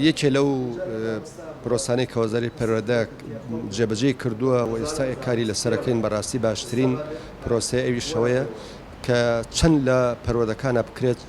یەکێ لەو پرۆسانەی کە وەزاری پەروەردە جێبەجێی کردووە و ئێستا کاری لەسەرەکەین بەڕاستی باشترین پرۆسەی ئەوی شەوەیە کە چەند لە پەروەردەکانە بکرێت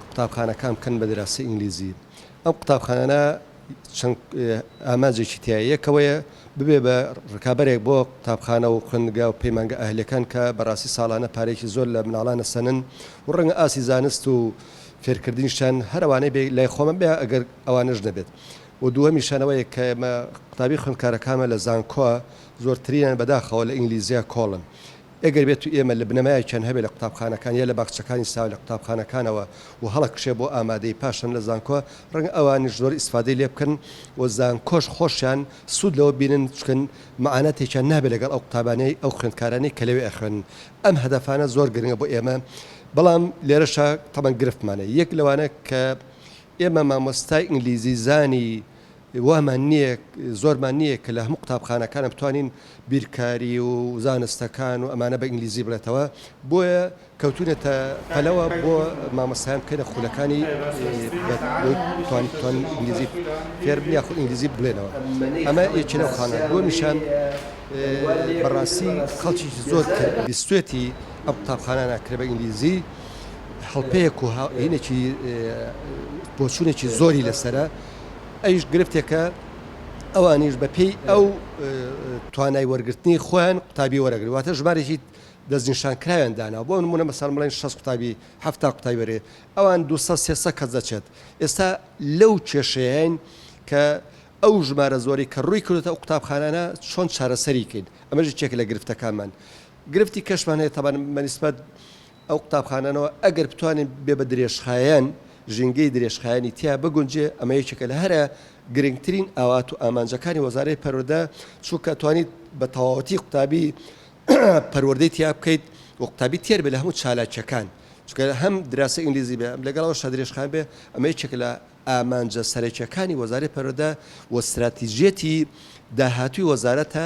قوتابخانەکان بکەن بە دراسی ئینگلیزی ئەم قوتابخانانە چەند ئاماجێکی تیا یەکەوەیە ببێ بە ڕکابەرێک بۆ قوتابخانە و خوندگا و پەیمانگە ئەهلەکان کە بەڕاستی ساڵانە پارێکی زۆر لە مناڵانە سەنن و ڕەنگە ئاسی زانست و فێرکردنیشیان هەر ئەوانەی بێ لای خۆمە بێ ئەگەر ئەوانەش نەبێت و دووەمیشیان ئەوەیە کە ئێمە قوتابی خوێندکارەکانمە لە زانکۆا زۆرترینیان بەداخەوە لە ئینگلیزیا کۆڵن ئەگەر بێت و ئێمە لە بنەمایەکیان هەبێ لە قوتابخانەکان یا لە باخچەکانی ساوە لە قوتابخانەکانەوە و هەڵەکشێ بۆ ئامادەی پاشان لە زانکۆ ڕەنگە ئەوانیش زۆر ئیسفادەی لێ بکەن و زانکۆش خۆشیان سوود لەوە بینن چکە مەعاناتێکیان نابێ لەگەڵ ئەو قوتابانەی ئەو خوێندکارانەی کە لەوێ ئەخوێنن ئەم هەدەفانە زۆر گرنگە بۆ ئێمە، بەڵام لێرەشا تەبەن گرفتمان هەیە، یەک لەوانە کە ئێمە مامۆستای ئینگلیزیزانی وامان نییە، زۆرمان نییە کە لە هەموو قوتابخانەکانە بتوانین بیرکاری و زانستەکان و ئەمانە بە ئینگلیزی بڵێتەوە، بۆیە کەوتوینەتە پەلەوە بۆ مامۆستایان بکەینە خولەکانی بتوانن ئینگلیزی فێربن یاخود ئینگلیزی بڵێنەوە، ئەمە یەکێ لەو خاڵانە، دووەمیشان. بەڕاستی خەڵکیکی زۆر کە بیستێتی ئەم قوتابخانانە کرێ بە ئینگلیزی هەڵپەیەک و هاوینێکی بۆچوونێکی زۆری لەسرە ئەیش گرفتێکە ئەوانیش بە پێی ئەو توانای وەرگرتنی خۆیان قوتابی وەرەگری واتە ژمارێکی دەستنیشان کراوێن دانا بۆ نمونە مەسەر بڵێن شەست قوتابی هەفتا قوتای وەرێ ئەوان دو سێسە کەس دەچێت ئێستا لەو کێشەیەین کە ئەو ژمارە زۆرەی کە ڕووی کردۆتە ئەو قوتابخانانە چۆن چارەسەری کەین ئەمەش یەکێکە لە گرفتەکانمان گرفتی کەشمان هەیە تابان مەنیسبەت ئەو قوتابخانانەوە ئەگەر بتوانین بێ بە درێژخایەن ژینگەی درێژخایەنی تیا بگونجێ ئەمە یەکێکە لە هەرە گرنگترین ئاوات و ئامانجەکانی وەزارەی پەروەردە چونکە توانیت بە تەواوەتی قوتابی پەروەردەی تیا بکەیت و قوتابی تێر بێ لە هەموو چالاکیەکان چکە هەم دراسە ئینگلیزی بێ لەگەڵەوە شەدرێژخان بێ ئەمە یەکێک لە ئامانجە سەرەکیەکانی وەزارەی پەروەردە و ستراتیجیەتی داهاتووی وەزارەتە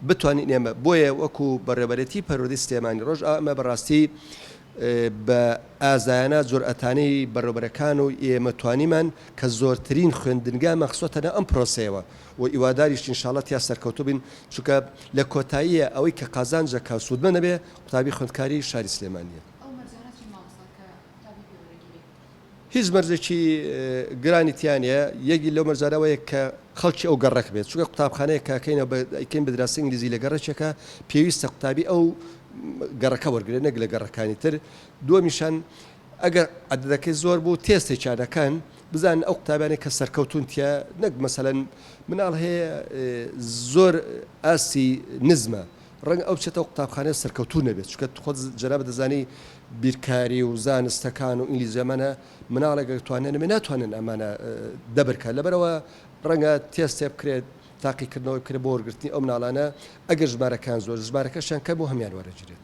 بتوانین ئێمە بۆیە وەکو بەڕێوەبەرێتی پەروەردەی سلێمانی ڕۆژئاوا ئەمە بەڕاستی بە ئازایانە جورئەتانەی بەڕێوەبەرەکان و ئێمە توانیمان کە زۆرترین خوێندنگامان خستۆتە ناو ئەم پرۆسەیەوە و هیواداریشین ان شاءاللە تیا سەرکەوتوو بین چونکە لە کۆتاییە ئەوەی کە قازانجەکە سوودمەندە بێ قوتابی خوێندکاری شاری سلێمانیە. هیچ مەرجێکی گرانی تیا نیە یەگی لەو مەرجانە وەیە کە خەڵکی ئەو گەڕەک بێت چونکە قوتابخانەیە کە کەینە بە ئەیکەین بە دراسی ئینگلیزی لە گەڕەکێکە پێویستە قوتابی ئەو گەڕەکە وەرگێ نەک لە گەڕەکانی تر دووەمیشان ئەگەر عددەکەی زۆر بوو تێستی چادەکان بزان ئەو قوتابانی کە سەرکەوتون تیا نەک مەسەەن مناڵ هەیە زۆر ئاسی نزمە ڕەنگە ئەو بچێتەوە قوتابخانەی سەرکەوتوو نەبێت چونکە خۆت جەنابت دەزانی بیرکاری و زانستەکان و ئینگلیزی ئەمانە مناڵێک گەر توانای نەبێت ناتوانن ئەمانە دەبر کە لەبەرەوە ڕەنگە تێستێ بکرێت تاقیکردنەوەی بکرێت بۆ وەرگرتنی ئەو مناڵانە ئەگەر ژمارەکان زۆر ژمارەکەشیان کەم و هەمیان وەرەگیرێت.